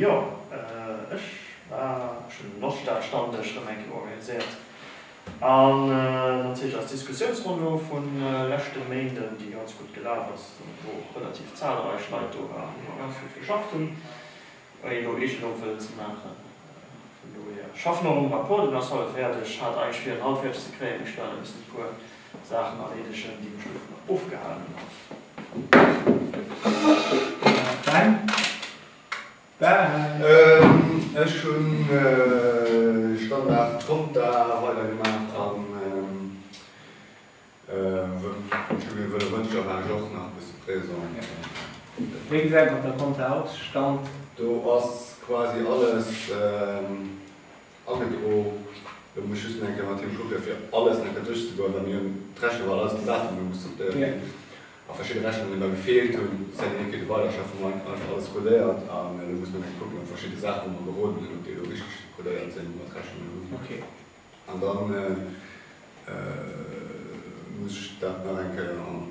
Jo, ech war, ech hunn d'Oststad-Stammdësch erëm eng Kéier organiséiert an natierlech eis Diskussiounsronn vun leschte Méinden, déi ganz gutt gelaf ass, wou och relativ zahlreich Leit do waren, déi och ganz vill geschafft hunn, ouni elo Eegelung wëllen ze maachen. Vun dohier, ech schaffen och um Rapport, deen ass haut fäerdeg, hat eigentlech wier en haut fäerdeg ze kréien, mee ech stellen e bëssen e puer. Saachen erleedegen, déi mech dovunner ofgehalen hunn. Ech hunn Standard Konta weidergemaach a Studium Wëlle Mëncher war ech och nach e bësse présent. Wéi gesäit et mat der Konta aus? Stand? Do ass quasi alles. Agedro. Elo muss ech just nach eng Kéier mat him kucken, fir alles nach eng Kéier duerchzegoen, well mir hunn d'Rechnung, well all eis Gesetzer hu muss sortéiert ginn a verschidde Rechnungen da gefeelt hunn, si hätten een kéinte weiderschaffen. Mä einfach alles kodéiert a elo muss mer nach kucken, ob verschidde Saachen, wou mer geroden hunn, ob déi elo richteg kodéiert sinn, mat Rechnungen hunn. An da muss ech dat nach eng Kéier an.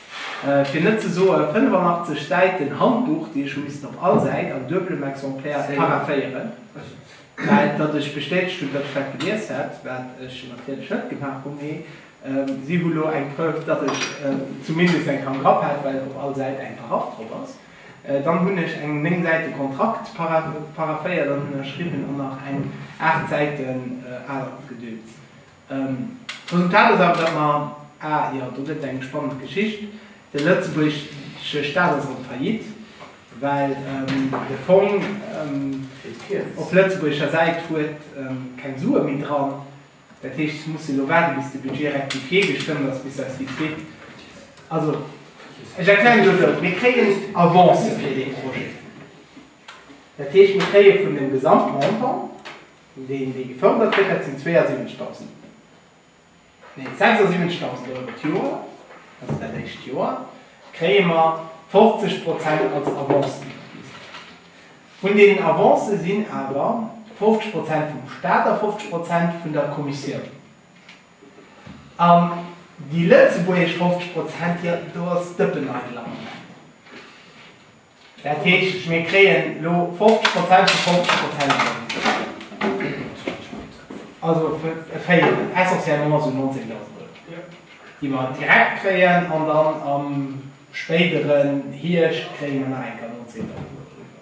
fir net ze soen 85 Säiten Handbuch, déi ech hu missen op all Säit an dueblem Exemplaire paraphéieren, well datt ech bestätegt hunn, datt ech dat gelies hätt, wat ech natierlech net gemaach hunn, mee si hu lo eng Preuve, datt ech zumindest eng Kand drop hat, well op all Säit eng Paraff drop ass. Dann hunn ech eng néng Säite Kontrakt paraphéiert an ënnerschriwwen an nach eng aacht Säiten anert Gedöns. D'Resultat ass awer, datt mer, a jo, do gëtt et eng spannend Geschicht, de lëtzebuergesche Staat ass an Faillite, well de Fong op lëtzebuergescher Säit huet keng Sue méi dran. Dat heescht, ech muss elo waarden, bis de Budget rectifié gestëmmt ass, bis eis Lidd kritt. Also, ech erklären elo esou, Mir kréien Avancë fir dee Projet. Dat heescht, mir kréie vun dem Gesamtmontant. Deen, dee gefërdert gëtt, dat sinn 72.000, nee 76.000 Euro d'Joer, also dat éischt Joer kréie mer 50 Prozent als Avancen iwwerwisen. Vun deenen Avancë sinn awer 50 Prozent vum Stat a 50 Prozent vun der Kommissioun. An déi lëtzebuergesch 50 Prozent, jo, do ass Dëppeneidel am Moment. Dat heescht, mir kréien elo 50 Prozent vu 50 Prozent erëm. Also e Véierel, essentiellement emol esou 19.000 Euro, déi mer direkt kréien. An dann am spéideren Hierscht kréie mer nach eng kéier 19.000 Euro doriwwer.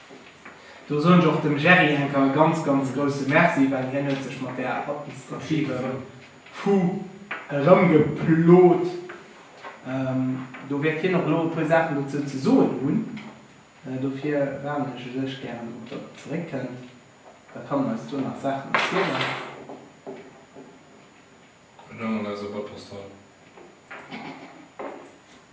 Do soen ech och dem Gerry Henke e ganz, ganz grousse Merci, well hien huet sech mat där administrativem Fu erëmgeplot. Do wäert hien och elo e puer Saachen dozou ze soen hunn. Dofir waarden ech u sech gären op, datt e zeréckkënnt, da kann en eis do nach Saachen erzielen. Elo mat eiser Botterstall.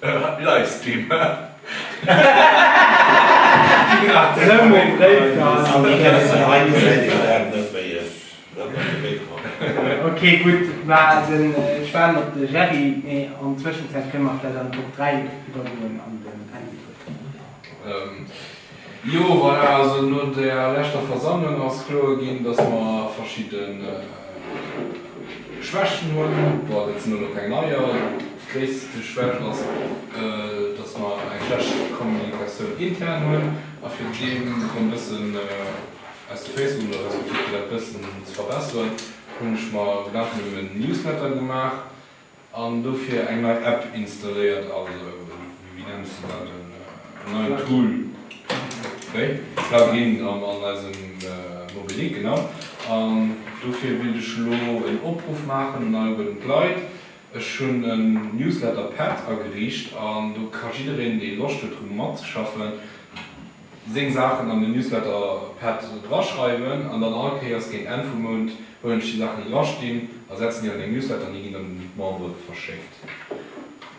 Ëh wat nice Thema. Ok gutt ma den ech waarden op de Gerry mee an Zwëschenzäit kënne mer vläit an Top 3 iwwergoen an den Andy huet. Jo, voilà, also no der leschter Versammlung ass kloer ginn, dass mer verschidde Schwächten hunn. Bon, dat sinn elo keng neier. Déi gréisste Schwächt ass, dass mer eng schlecht Kommunikatioun intern hunn. A fir deem erëm e bëssen aus de Féiss ze goen oder respektiv fir dat e bëssen ze verbesseren, hunn ech mer Gedanken ëm en Newsletter gemaach, An dofir eng nei App installéiert, also wéi nenns de dat, en neien Tool, wéi Plugin an eisem Mobilik, genau. An dofir wéilt ech elo en Opruff maachen un all gudd Leit. Ech hunn en Newsletter-Pad ageriicht an do ka jiddereen deen Loscht huet dru matzeschaffen, seng Saachen an den Newsletter Pad draschreiwen an dann all Kéiers géint Enn vum Mount huelen ech déi Saachen déi drastinn a setzen déi an meng Newsletter an déi ginn dann un d'Membere verschéckt.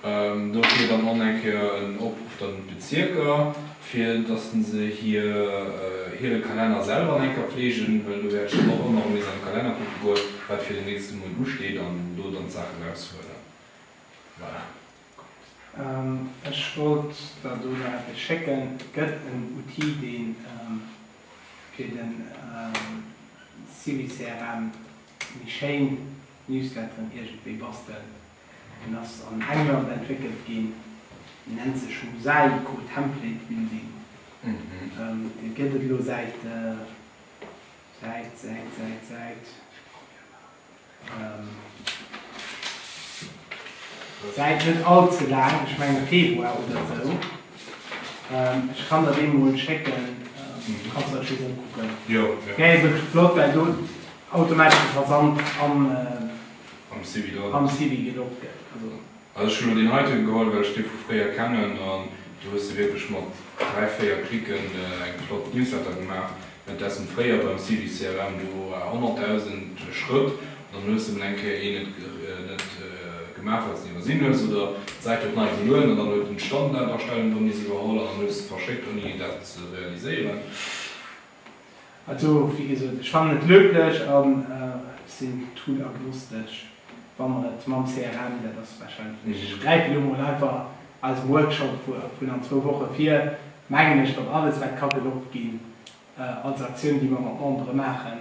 Do fiert dann och nach eng Kéier en Opruff dann un d'Bezierker, fir datt se hir hire Kalenner selwer nach eng Kéier pfleegen, well do wäert ech dann och ëmmer erëm nees an de Kalenner kucke goen, wat fir den nächste Mount usteet an do dann d'Saachen raushuelen. Voilà. Ech wollt der do nach eppes schécken. Et gëtt en Outil dee fir de CiviCRM méi schéin Newsletteren iergendwéi bastelt. En ass an England entwéckelt ginn, en nennt sech Mosaico Template Building. Dee gëtt et elo säit, säit, säit, säit, säit. Deit net all ze laang, ech mengen Februar oder sou. Ech kann der déi mol schécken, du kanns der just ukucken. Déi ass wierklech flott well do automatesch de Versand am Sivi gelogt gëtt. Also ech hunn elo deen heiten geholl well ech dee vu fréier kennen an do hues de wierklech mat 3, 4 Klicken eng flott Newsletter gemaach. Währenddessen fréier beim Civi CRM do war 100.000 Schrëtt an dann hues de mol eng Kéier een net gemaach well s en iwwersinn hues oder d'Säit huet nei gelueden an dann huet en d'Standardastellung do miss iwwerholl an dann hues de verschéckt ouni dat ze realiséieren. Also, wéi gesot, ech fannen et löblech a sinn tool-agnostesch, wa mer et mam CRM, dat ass warscheinlech, ech gräife elo mol einfach eise Workshop vun an zwou Woche vir, mengen ech, datt alles, wat ka gelockt ginn als Aktioun, déi mer mat Membere maachen,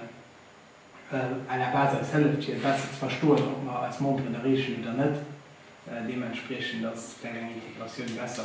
à la base eis hëlleft, fir besser ze verstoen, ob mer eis Memberen erreechen oder net. Deementspriechend ass vläicht eng Integratioun besser.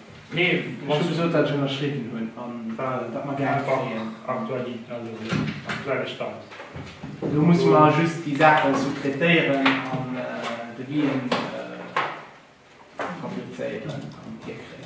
Nee, ech hu gesot, datt ech ënnerschriwwen hunn a wat mer gär kréien. Aktuelle Stand. Elo musse mer just déi Saache sous-traitéieren an de Wien fabrizéieren an hierkréien.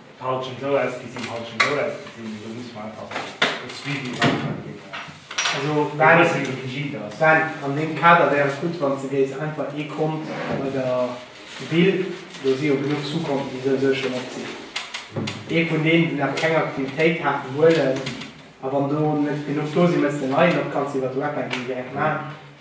Haut schon esou ausgesin, haut schon esou ausgesin, mee do musse mer einfach e Suivi maachen, deen e bësse méi rigid ass. Ben, an deem Kader wär et gutt, wann s de géifs einfach ee Kont bei der Ville, do si jo genuch Sous-konten, déi souwisou schon op sinn, ee vun deenen, déi nach keng Aktivitéit haten, huelen, a wann do net genuch do sinn, mëss de en neien op, kanns de iwwert d'Web eng Déi direkt maachen.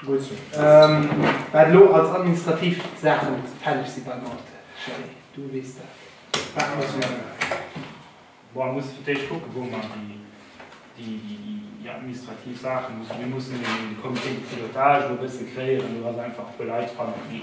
Gutt. Wat elo als administrativ Saachen fälleg si beim Ort, Charel, du weess dat. Wat muss mir elo maachen? Boah, muss fir d'éischt kucken, wou mer déi administrativ Saachen, mir mussen de Comité de pilotage elo e bësse kréien, do ass einfach e puer Leit dran, déi.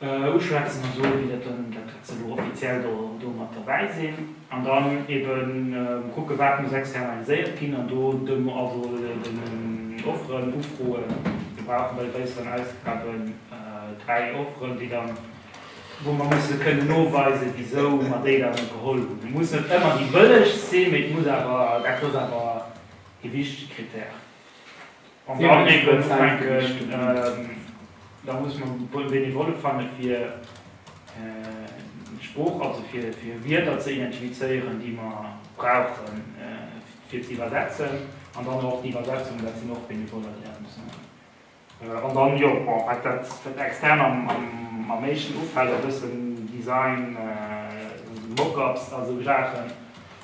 Uschwätzen an soen, wéi dat dann, dat wat se elo offiziell do, do mat derbäi sinn. An dann eben kucken, wat muss externaliséiert ginn. An do de also den Offeren ufroen. Mir brauchen bei de gréisseren Ausgaben dräi Offeren, déi dann, wou mer musse kënnen noweisen, wisou mer déi dann geholl hunn. Et muss net ëmmer déi bëllegst sinn, mee et muss awer, dat ass awer e wichtege Krittär. Wann se all géifen ufänken, da muss mer Benevolle fanne fir d'Sprooch, also fir Wierder ze identifizéieren, déi mer brauche fir ze iwwersetzen, an dann och d'Iwwersetzung, dat sinn och Benevoller, déi dat musse maachen. An dann, jo, bon, wat dat extern am meeschten ufält, e bëssen Design, Mock-ups a sou Saachen,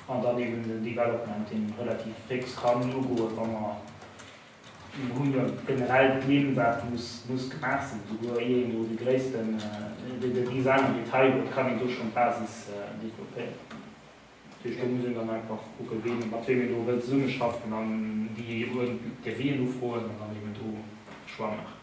an dann eben den Development, dee relativ fix kann ugoen, wa mer Mir hunn jo generell d'Nimm, wat muss gemaach sinn, souguer ier een do de gréissten, et gi se aner Detailer, et kann een do schonn d'Basis developpéieren. Duerch do muss een dann einfach kucken, ween, mat weem een do wëllt zesummeschaffen an déi Devisën ufroen an dann eeben do de Choix maachen.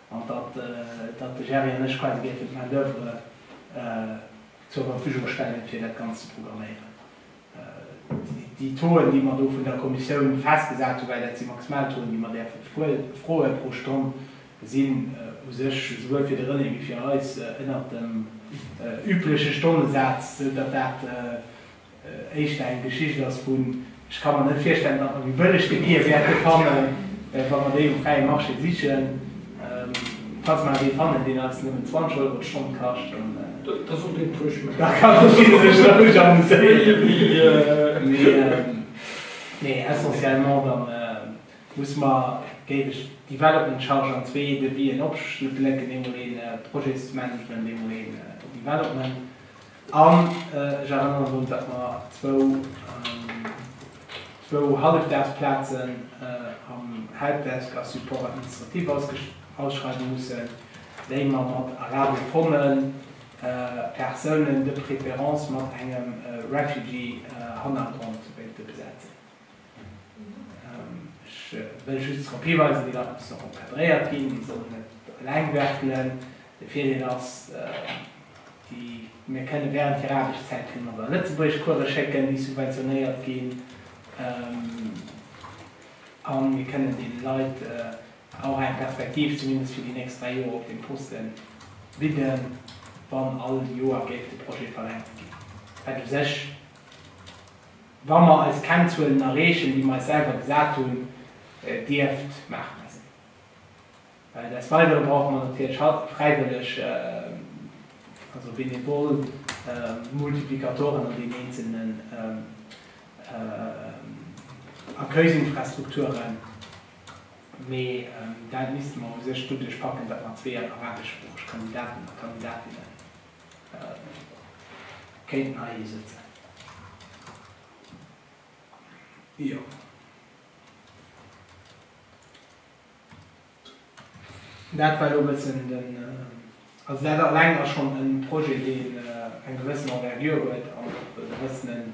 an datt de Gerry an ech quasi géifen d'Main d'oeuvre zur Verfügung stellen, fir dat Ganzt ze programméieren. Déi Touen, déi mer do vun der Kommissioun festgesat hu, well dat si maximal Touen, déi mer däerfe froe pro Stonn, sinn u sech esouwuel fir de René wéi fir eis ënnert dem übleche Stonnesaz, esou datt dat éischter eng Geschicht ass vun, ech ka mer net virstellen, datt mer déi bëllegste Bier wäerte fannen, wa mer déi um fräie Marché sichen. Falls mer awer ee fannen, deen eis nëmmen 20 Euro d'Stonn kascht, da kann de Gilles sech laang amuséieren. Nee, essentiellement da musse mer, géif ech d'Development Charge an zwee Devis'en opsplécken, eemol ee Projectsmanagement, eemol ee Development. An ech erënneren drun, datt mer zwou, zwou Hallefdaagsplazen am Helpdesk a Support administratif ausschreiwe mussen, déi mer mat Arabien Fonden, Persounen, de préférence mat engem Refugee Hannergrond wéilte besetzen. Ech wëll just drop hiweisen, wéi dat muss nach encadréiert ginn. Mir sollen net eleng werkelen. De Virdeel ass, mir kënnen während hirer Aarbechtszäit kënnen mer se a Lëtzebuergesch Course schécken, déi subventionéiert ginn, a mir kënnen deene Leit och eng Perspektiv, zumindest fir déi nächst dräi Joer, op deem Poste bidden, wann all Joer géif de Projet verlängert ginn, wat u sech Wa mer eis Kennzuelen erreechen, déi mer eis selwer gesat hunn, dierft d'Maart da sinn. Des Weidere brauche mer natierlech haut fräiwëlleg, also bénévol, Multiplikatoren an den eenzelnen Accueilsinfrastrukturen. Mee dat misste mer u sech doduerch packen, datt mer zwee arabesproocheg Kandidaten a Kandidatinnen Kéinten hei ee sëtzen. Jo. Dat war elo e bëssen den, also dat eleng ass schonn e Projet, deen eng gewëssen Envergure huet an och e bëssenen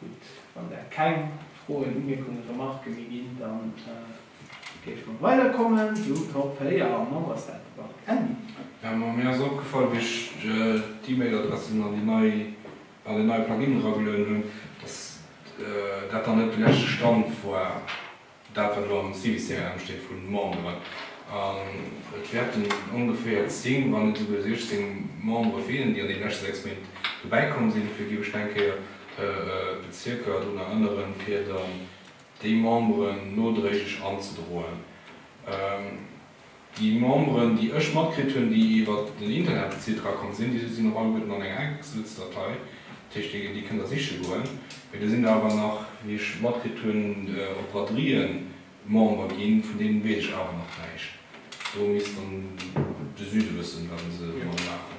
Gutt, wann der keng Froen, Umierkungen, Remarken méi ginn, da géife mer weiderkommen zum Top 4, am Fong ass dat de Parc Emmi. Jo, ma mir ass opgefall, wéi ech d'E-Mail-Adressen an den neie Plugin eragelueden hunn, dass dat dann net de leschte Stand war. Dat wat elo am CBCRM steet vu Memberen, an et wäerten ongeféier 10, wann net esouguer 16 Membere feelen, déi an deene leschte 6 Méint dobäi komm sinn, fir déi ech elo eng Kéier d'Bezierker drun erënneren, fir dann déi Memberen nodréiglech anzedroen. Déi Memberen, déi ech matkritt hunn, déi iwwer den Internet bezilt erakomm sinn, déi sinn och alleguerten an enger Excelsdatei. Dat heescht, déi kënnt Der siche goen. Mee do sinn der awer nach, wéi ech matkritt hunn, op Braderien Member ginn. Vun deenen weess ech awer nach näischt. Do misst dann de Süde wëssen, wat e se domadder maachen.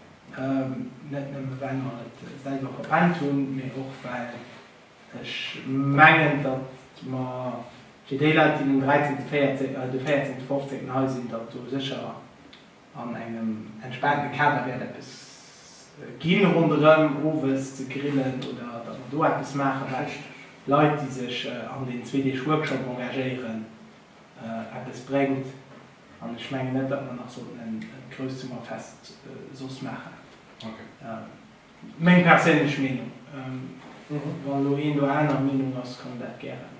Net nëmme well mer et selwer verpennt hunn, mee och well ech mengen, datt mer fir déi Leit, déi den 13., 14., de 14., 15. hei sinn, datt do sécher an engem entspaanten Kader wäert eppes gi ronderëm owes ze grillen oder datt mer do eppes maachen, well Leit, déi sech an deenen zwee Deeg Workshop engagéieren, eppes bréngt. An ech mengen net, datt mer nach sollten en grousst Summerfest soss maachen. Meng perséinlech Meenung. Wann elo een do aner Meenung ass, kann en dat gären.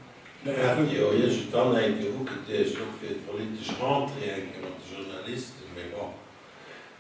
Mir haten déi jo iergendwann eng Kéier ugeduecht, och fir d'politesch Rentrée eng Kéier mat de Journalisten, mee bon.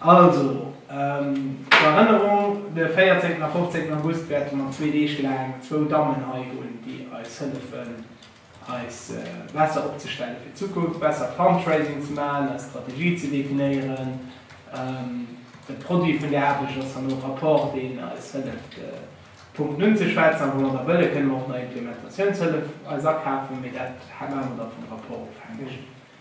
Also, zur Erënnerung, de 14 a 15 August wäerte mer zwee Deeg laang zwou Dammen hei hunn, déi eis hëllefen, eis besser opzestelle fir d'Zukunft, besser Fundraising ze maachen, eis Strategie ze definéieren. De Produit vun där Aarbecht ass herno e Rapport, deen eis hëlleft, Punkten unzeschwätzen, a wou mer da wëlle kënne mer och nach Implementatiounshëllef eis akafen, mee dat maache mer da vum Rapport ofhängeg.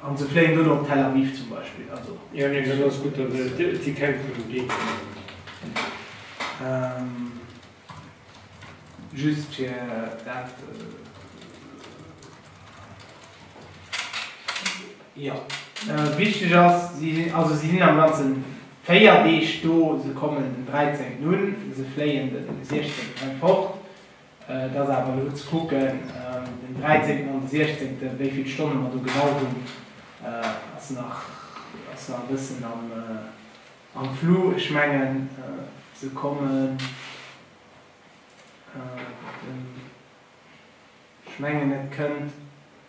An se fléien duerno op Tel Aviv zum Beispill. Also. Jo, nee, dat ass gutt, et si keng vun dem Deeg genommen. Just fir dat. Jo, wichteg ass, si sinn, also si sinn am Ganze véier Deeg do. Se kommen den 13 un, se fléien den 16 fort. Et ass awer elo ze kucken, den 13 an de 16, wéi vill Stonne mer do genau hunn, ass nach e bëssen am Flou. Ech mengen, se kommen, ech mengen et kënnt.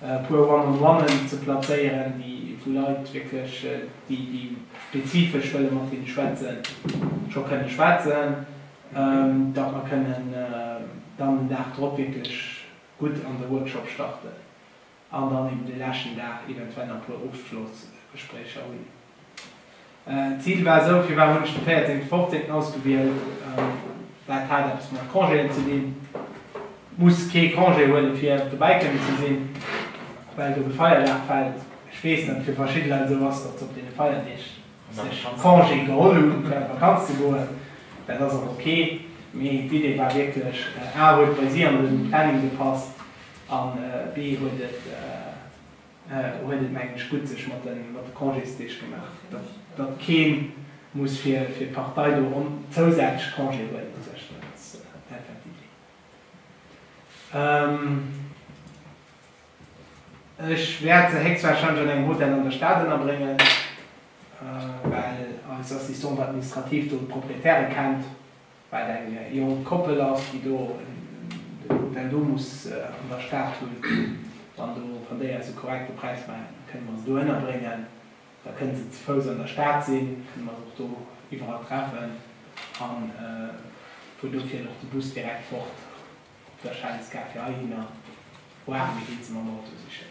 e puer One on One'en ze plazéieren, déi vu Leit wierklech, déi déi spezifesch wëlle mat hinne schwätzen, scho kënne schwätzen, datt mer kënnen dann den Dag drop wierklech gutt an de Workshop starten an dann eben de leschten Dag eventuell nach e puer Ofschlossgespréicher hunn. D'Zil war esou, firwat hunn ech de 14., 15. ausgewielt, dat hat eppes mat Congéen ze dinn, muss kee Congé huelen, fir dobäi kënnen ze sinn, well do de Feierdag fält. Ech weess, datt et fir verschidde Leit esou ass, datt se op deene Feierdeeg sech Congé geholl hunn, fir an d'Vakanz ze goen. Dat ass och ok, mee d'Idee war wierklech, a huet bei si an de Planning gepasst an, b huet et, huet et mengen ech gutt sech mat de Congésdeeg gemaach, datt kee muss fir d'Partei do ronn zousätzlech Congé huelen u sech, dat ass einfach d'Iddi. Ech wäert se héchstwahrscheinlech an engem Hotel an der Stad ënnerbréngen, well eis Assistante administrative do d'Proprietäre kennt. wat eng jonk Koppel ass, déi do de Weekend do muss an der Stad hunn, wann do, wann déi eis e korrekte Präis maachen, da kënne mer se do ënnerbréngen, da kënne se ze Fouss an der Stad sinn, kënne mer se och do iwwerall treffen a vu do fiert och de Bus direkt fort op der Schellesgare fir heihinner, voire mir ginn se mam Auto sichen.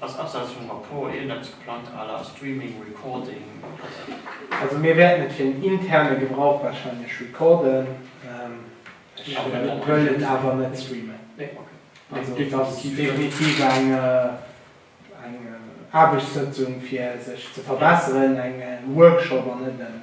Ass abseits vum Rapport iergendeppes geplangt à la streaming, recording oder esou? Also mir wäerten et fir den interne Gebrauch wahrscheinlech recorden. Ech wëll et awer net streamen. Also et ass definitiv eng Aarbechtssëtzung fir sech ze verbesseren, eng Workshop an net en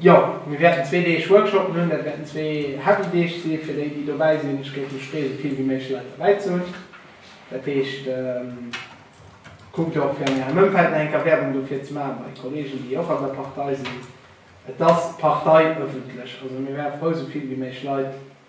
Jo, mir wäerten zwee Deeg Workshoppen hunn. Dat wäerten zwee heavy Deeg si fir déi, déi dobäi sinn. Ech géif mech freeë souvill wéi méiglech Leit dobäi ze hunn. Dat heescht, kuckt och fir an ärem Ëmfeld nach eng Kéier Werbung dofir ze maachen, bei Kollegen, déi och an der Partei sinn. Et ass parteiëffentlech, also mir wäre frou souvill wéi méiglech Leit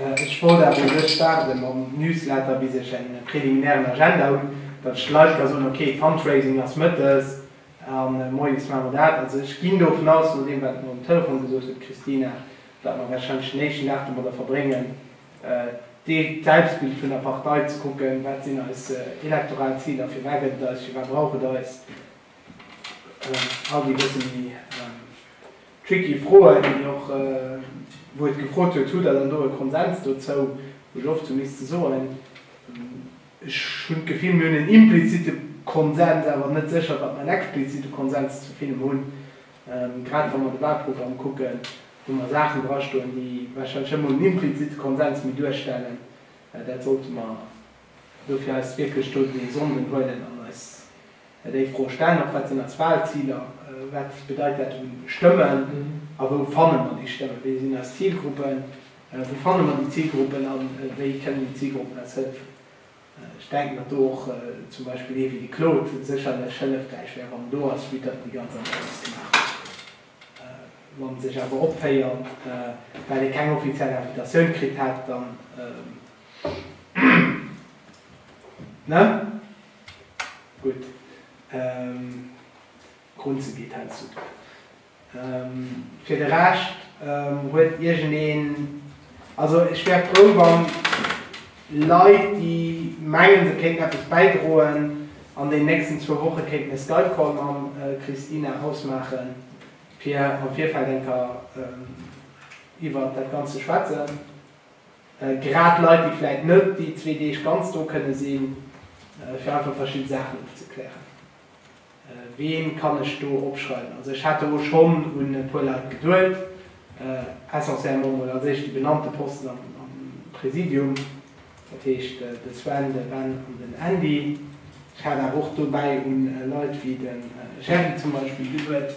Ech wollt awer u sech waarde mam Newsletter bis ech eng preliminären Agenda hunn, datt ech de Leit ka soen, ok Fundraising ass mëttes a moies maache mer dat. Also ech ginn dovun aus, no deem wat mer um Telefon gesot huet d'Christina, datt mer wahrscheinlech den éischten Dag domadder verbréngen d'Selbstbild vun der Partei ze kucken, wat sinn eis elektoral Ziler, firwat gëtt et eis, firwat brauch et eis, all déi bësse méi Tricky Froen, déi och, wou et gefrot huet, Hutt Der dann do e Konsens dozou? Wou ech oft sou misste soen, ech hunn d'Gefill, mir hunn en implizitte Konsens, awer net sécher, datt mer en explizitte Konsens zu villem hunn, grad wa mer de Wahlprogramm kucken, wou mer Saachen drastoen, déi warscheinlech net emol en implizitte Konsens méi duerstellen. Dat sollte mer Dofir eis wierklech do déi Sonden huelen an eis déi Fro stellen, och wat sinn eis Wahlziler, wat bedeit dat u Stëmmen a wou fanne mer déi Stëmmen, wie sinn eis Zilgruppen, wou fanne mer déi Zilgruppen a wéi kënnen déi Zilgruppen eis hëllefen. Ech denken, datt do och zum Beispill ee wéi de Claude sécherlech hëllefräich wär, wann en do ass, vue datt en déi ganz Analys gemaach huet an sech awer opféiert, well e keng offiziell Invitatioun kritt hätt. Dann. Na? Gutt. Ehm. Grunze geet hei zu duer. Ehm. Fir de Rescht, ehm, huet iergendeen, also ech wär frou wann Leit déi mengen se kéinten eppes bäidroen an den nächsten zwou Woche kéinten e Skype-Call mam Christina ausmaachen fir am Virfeld enker iwwert dat Ganzt ze schwätzen. Grad Leit, déi vläit net déi zwee Deeg ganz do kënne sinn, fir einfach verschidde Saachen ofzeklären. Ween kann ech do opschreiwen? Also ech hat do schonn un e puer Leit geduet, essentiellement mol als éischt déi benannte Posten am Präsidium, dat heescht de Sven, de Ben an den Andy. Ech hat awer och dobäi un Leit wéi de Gerry zum Beispill geduet.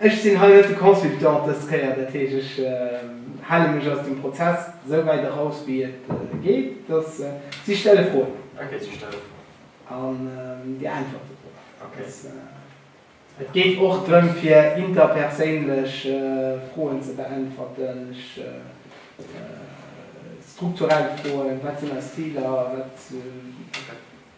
Ech sinn hei net de Consultant dës Kéier, dat heesch ech hale mech aus dem Prozess esou wäit eraus wéi et geet, dass si stelle Froen. Okay, si stelle Froen. An Dir äntwerte drop. Okay. Et geet och drëm fir interperséinlech Froen ze beäntwerten, strukturell Froen, wat sinn eis Ziler, wat.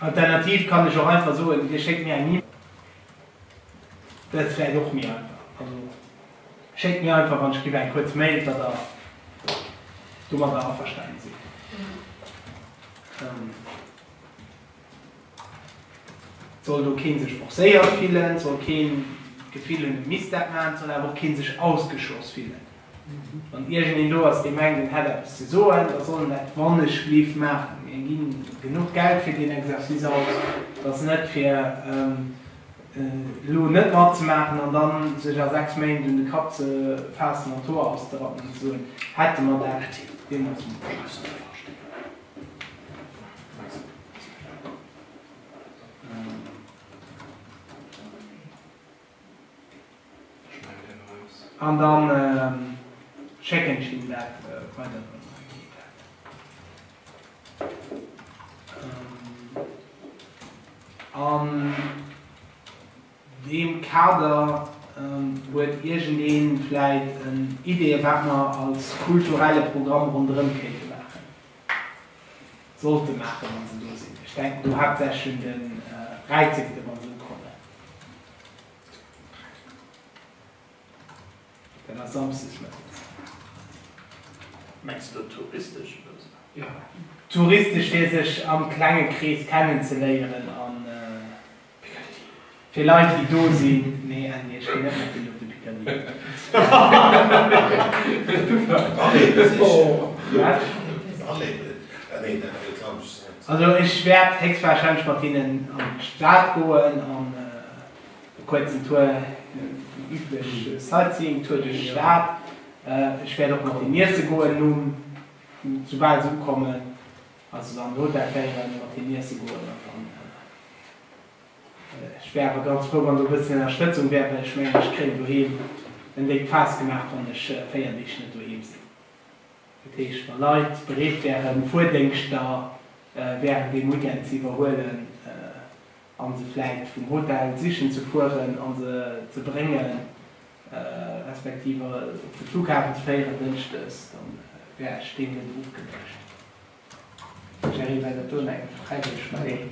Alternativ kann ech och einfach soen, dir schéckt mir eng E-Mail. Dat ass vläicht och méi einfach. Also schéckt mir einfach an ech giff eng kuerz Mail, datt der domadder averstanen sidd. Et soll do kee sech forcéiert fillen, et soll keen d'Gefill hunn, e misst dat maachen, et soll awer och keen sech ausgeschloss fillen. Wann iergendeen do ass, dee mengt, en hätt eppes ze soen, da soll en dat wannechlief maachen. Mir gi genuch Geld fir deen Exercice aus. Et ass net, fir elo net matzemaachen an da sech a sechs Méint un de Kapp ze faassen an d'Hoer auszerappen an ze soen, Hätte mer dat deemools mol beschlossen. An dann schécken ech him dat weider an dann geet dat. An deem Kader huet iergend ee vläit Ideeë wat mer als kulturelle Programm ronderëm kéinte maachen. Sollte maachen, wa se do sinn. Ech denken do haaptsächlech un de Räizegedde wa se ukommen. Dat ass samsdes mëttes. Mengs du touristesch oder esou? Jo, touristesch fir sech am klenge Krees kennenzeléieren an. Picardie. Fir Leit déi do sinn, nee en nee ech ginn net mat deenen op de Picardie. Also ech wäert héchstwahrscheinlech mat hinnen an d'Stad goen an e kuerzen Tour, den üblech Sightseeing Tour duerch d'Stad. Ech wäert och mat hinnen iesse goen nom, soubal se ukommen. Wann se dann d'Hotel féieren, mat hinnen iesse goen an dann, ech wär awer ganz frou wann do e bëssen Ënnerstëtzung wär, well ech mengen ech kréien doheem en déckt Faass gemaach wann ech 4 Deeg net doheem sinn. Dat heescht wa Leit bereet wären Fuerdéngschter während deem Weekend ze iwwerhuelen, an se vläicht vum Hotel sichen ze fueren a se ze brénge respektiv op de Flughafen ze féieren Dënschdes, da wär ech deen net ofgeneegt. Jerry, Well et do no engem Freideg méi.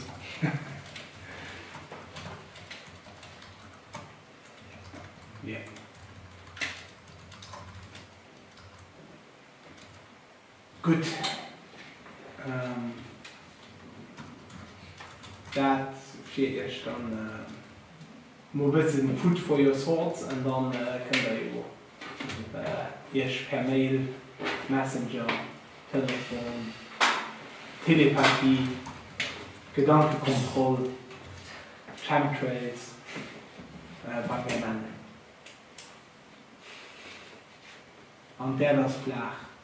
Gutt, dat fir iech dann mol bëssen food for your thoughts an dann kënnt der jo iech per Mail, Messenger, Telefon, Telepathie, Gedankenkontroll, Chemtrails bei mir mellen. An d'Äerd ass flaach.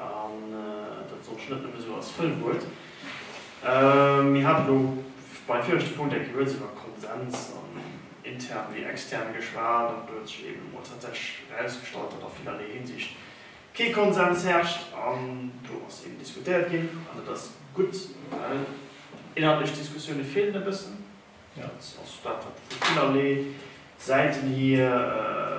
An dat soll ech net nëmme sou als Fëllwuert. Mir hate lo beim viregte Punkt eng Kéier lues iwwer Konsens an intern wéi extern geschwat, an do huet sech eben emol tatsächlech erausgestallt, datt a villerlee Hinsicht kee Konsens herrscht. An do ass eben diskutéiert ginn, an dat ass gutt, well inhaltlech Diskussioune feelen e bëssen. Dat ass dat, wat vu villerlee Säiten hier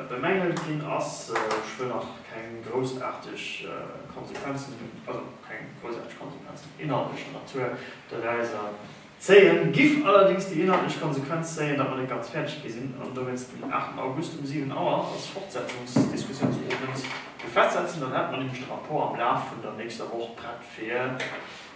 bemängelt ginn ass. Ech wëll nach keng groussaarteg Konsequenzen, also keng groussaarteg Konsequenzen inhaltlecher Natur dorauser zéien, giff allerdings déi inhaltlech Konsequenz zéien, datt mer net ganz fäerdeg gi sinn an dowéinst den 8 August um 7 Auer als Fortsetzungsdiskussionsowend festsetzen. Dann hätt mer nämlech de Rapport am Laf vun der nächster Woch prett fir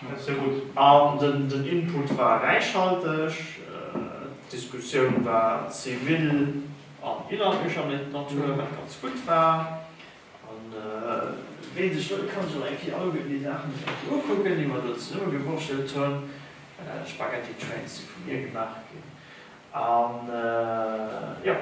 Merci, sehr gut. An den Input war räichhalteg, d'Diskussioun war zivil an inhaltlecher Natur, wat ganz gutt war. An wien sech wëll, ka sech och eng Kéier alleguerten déi Saachen eng Kéier ukucken, déi mer do zesumme gewurschtelt hunn. D'Spaghetti Trains si vu mir gemaach ginn. An jo.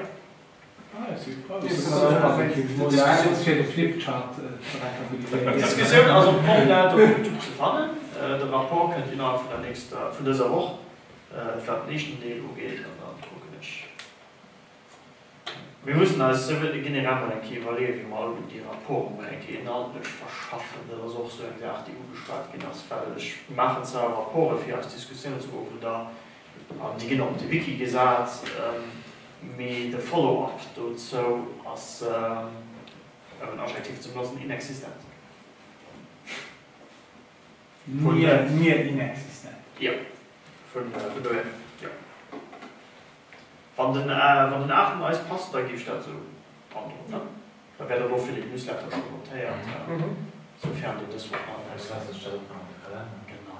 D'Diskussioun ass op Comdata op Youtube ze fannen. De Rapport kënnt innerhalb vun der nächster, vun dëser Woch, wat den éischten Deel ugeet. An da kucken ech, mir mussen eis generell mol eng Kéier iwwerleeën, wéi mer alleguer déi Rapporten emol eng Kéier inhaltlech verschaffen. Dat ass och esou eng Saach, déi ugeschwat ginn ass, well ech maachen zwar Rapporte fir eis Diskussiounsgruppen, da An déi ginn och op de Wiki gesat, mee de Follow-up dozou ass, ëm en Adjektiv ze benotzen, inexistent. Nier inexistent. Jo, vun dohier, jo. Wann den Aachen eis passt, da giff ech dat esou androen, ne? Da wär der elo fir den Newsletter scho notéiert, soufern de dës Woch nach net eraus ass. Genau.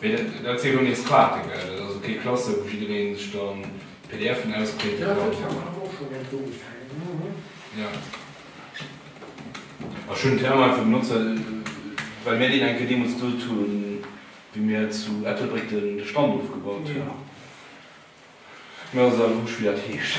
Mee dat wier jo nees Quake, gell? Dat ass jo kee Klasse wou jiddereen sech da PDFen ausprinten kann. Jo, dat war mer awer och schonn iergendwou opgaangen. Ech hunn den Terme einfach benotzt, well mir deen eng Kéier deemools gesot hunn, wéi mir zu Ettelbréck de Stand ofgebaut hunn. Mir ass et awer wurscht, wéi dat heescht.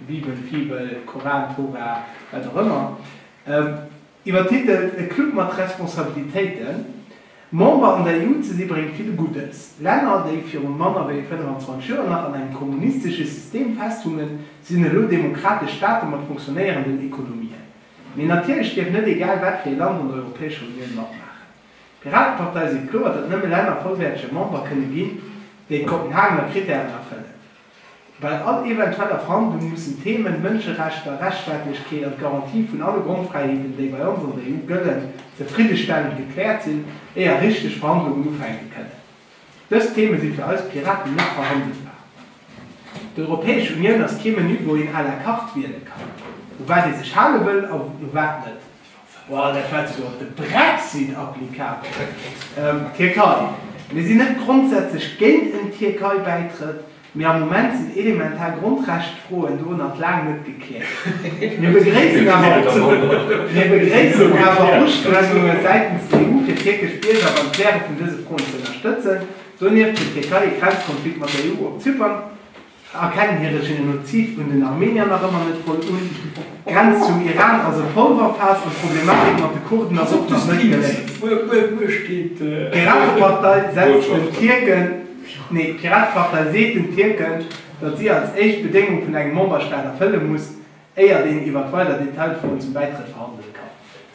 Bibel, Fibel, Koran, Tora, wat och ëmmer, iwwertitelt E Club mat Responsabilitéiten, Member an der EU ze si bréngt vill Guddes. Länner, déi virun manner wéi 25 Joer nach an engem kommunistesche System festhungen, sinn elo demokratesch Staate mat fonctionnéierenden Ekonomien. Mee natierlech dierf net egal wat fir ee Land an der Europäescher Unioun matmaachen. D'Piratepartei seet kloer, datt nëmme Länner vollwäertege Member kënne ginn, déi d'Kopenhagener Krittären erfëllen. Bei all eventueller Verhandlung mussen d'Themen Mënscherechter, Rechtsstaatlechkeet an d'Garantie vun alle Grondfräiheeten, déi bei ons an der EU gëllen, zefriddestellend gekläert sinn, éier richteg Verhandlungen ufänke kënnen. Dës Theme si fir eis Piraten net verhandelbar. D'Europäesch Unioun ass kee Menü, wou een à la carte wiele kann, u wat ee sech hale wëll a u wat net. Wow, dat war esouguer op de Brexit applicabel. Tierkei, Mir sinn net grondsätzlech géint en Tierkei-Bäitrëtt, mee am Moment sinn elementar Grondrechtfroen do nach laang net gekläert. Mir begréissen awer Ustrengunge säitens der EU fir tierkesch Bierger beim Kläre vun dëse Froen ze ënnerstëtzen. Donieft huet d'Tierkei e Grenzkonflikt mat der EU op Zypern. Erkennen hire Genozid un den Armenier nach ëmmer net voll un, d'Grenz zum Iran ass e Polverfaass an d'Problematik mat de Kurden ass och nach net geléist. D'Piratepartei seet den Tierken, datt si als éischt d'Bedéngung vun engem Memberstaat erfëlle muss, éier deen iwwer weider Detailfroen zum Bäitrëtt verhandele kann.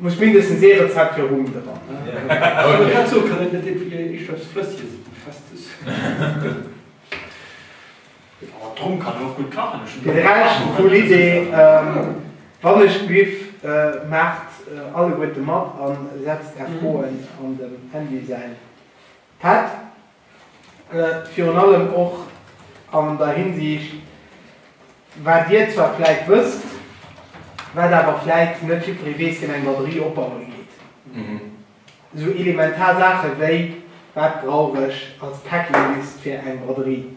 Muss mindestens ee Rezept fir Rum dran hun. Fir de Rescht cool Idee, wann ech Biff, maacht alleguerte mat an setzt är Froen an dem Andy säin Pad. Virun allem och an der Hinsiicht, wat Dir zwar vläit wësst, wat awer vläit net jidderee weess, deen eng Batterie opbaue geet. Esou elementar Saache wéi, Wat brauch ech als Packinglist fir eng Batterie?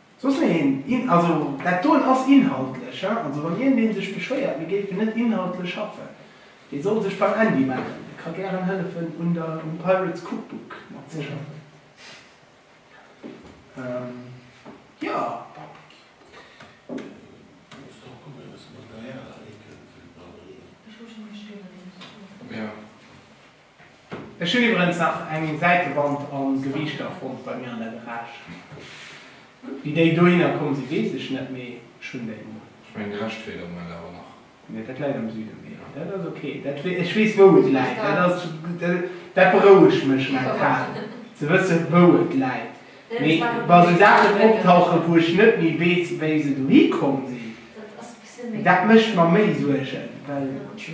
Soss méi een In, also dat doen ass inhaltlech, he, also wann een dee sech beschwéiert mir géifen net inhaltlech schaffen, dee soll sech beim Andy mellen, dee ka gären hëllefen un der, um Pirates Cookbook mat ze schaffen. Ähm, jo. Ech hun iwwerens nach eng Säitewand a Gewiichter fonnt bei mir an der Garage. Wéi déi dohinner komm si weess ech net, mee ech hun déi mol. Ech mengen de Rescht feelt am Moment awer nach. Nee, dat läit am Süden. Mee dat ass ok, dat weess ech weess wou et läit. Dat ass dat berouegt mech mental ze wëssen wou et läit. Mee wa sou Saachen optauchen, wou ech net méi weess, wéi se dohi komm sinn, dat mécht mer méi Suergen, well ech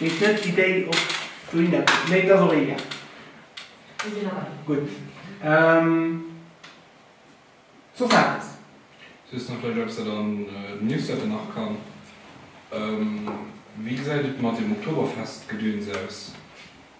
weess net, wéi déi och dohinner kommen. Mee et ass och egal. Gutt. Soss eppes? Soss nach vläicht eppes, dat an den Newsletter nach kann. Wéi gesäit et mat deem Oktoberfest-Gedöns aus?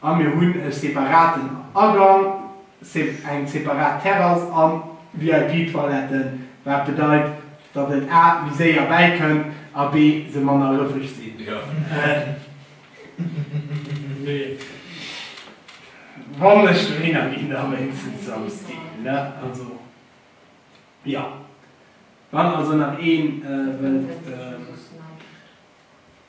A mir hunn e separaten Agang, eng separat Terrass a VIP-Toiletten, wat bedeit, datt et a méi séier bäikënnt a b se manner rëffeg sinn. Wann ech dohinner ginn, da wéinstens Samsdi. Wann also nach ee wëllt.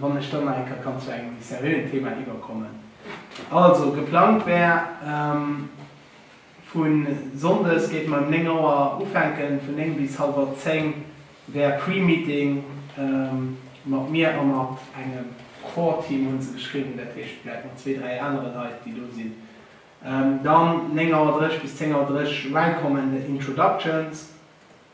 Wann ech dann nach eng Kéier kann zu engem méi seriöen Thema iwwerkommen. Also, geplangt wär, vu Sonndes géife mer um 9 Auer ufänken, vun 9 bis hallwer 10 wär Pre-Meeting mat mir a mat engem Core-Team, hunn se geschriwwen, dat heescht vläicht mat zwee, dräi anere Leit, déi do sinn. Dann 9 Auer 30 bis 10 Auer 30 Welcome and Introductions.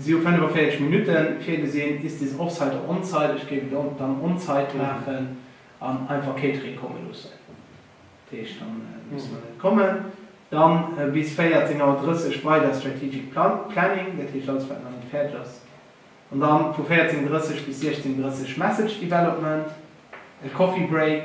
Si hu 45 Minutte virgesinn, Ist dies offside oder onside? Ech géif et dann onside maachen an einfach Catering komme loossen. Dat heescht, da musse mer net kommen. Dann bis 14 Auer 30 weider Strategic Planning, dat heescht alles wat nach net fäerdeg ass. An dann vu 14.30 bis 16.30 Message Development, e Coffee Break.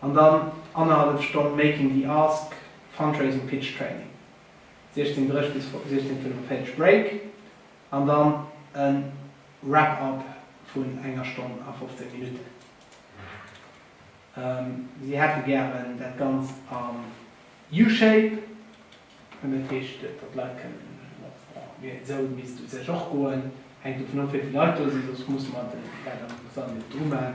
An dann annerhallef Stonn Making the Ask, Fundraising Pitch Training, 16.30 bis 16.45 Break, an dann e Wrap Up vun enger Stonn a 15 Minutten. Si hätte gären dat Ganzt am U-Shape, dat heescht, datt d'Leit kënnen op ongeféier esou e misst u sech och goen, hänkt dovun of wéivill Leit do sinn, soss musse mer dat am Sall net dru man.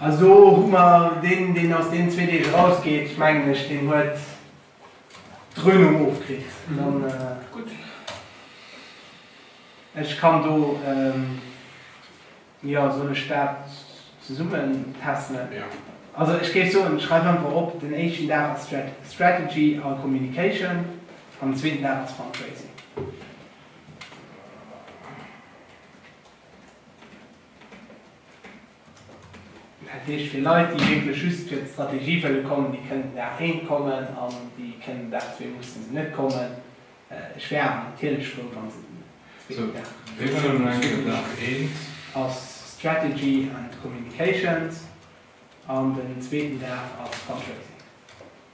Also hu mer deen, deen aus deenen zwee Deeg erausgeet, mengen ech, deen huet d'Dröhnung ofkritt. Ech kann do, jo, soll ech dat zesummentässelen? Also ech géif soen, schreif einfach op, den éischten Dag ass Strategy a Communication an den zweeten Dag ass Fundraising. Dat heescht, fir Leit, déi wierklech just fir d'Strategie wëlle kommen, déi kënnten der ént kommen an déi kënnen der zwee musse se net kommen. Ech wär awer natierlech frou, wa se den zweeten Dag kënnen. Wéi wëlle mer enke Dag ént? Ass Strategy and Communications an den zweeten Dag ass Fundraising.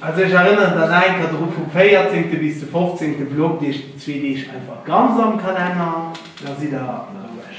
Also ech erënneren dann nach eng Kéier dru, vum 14 bis de 15 blockt iech déi zwee Deeg einfach ganz am Kalenner, da sidd der roueg.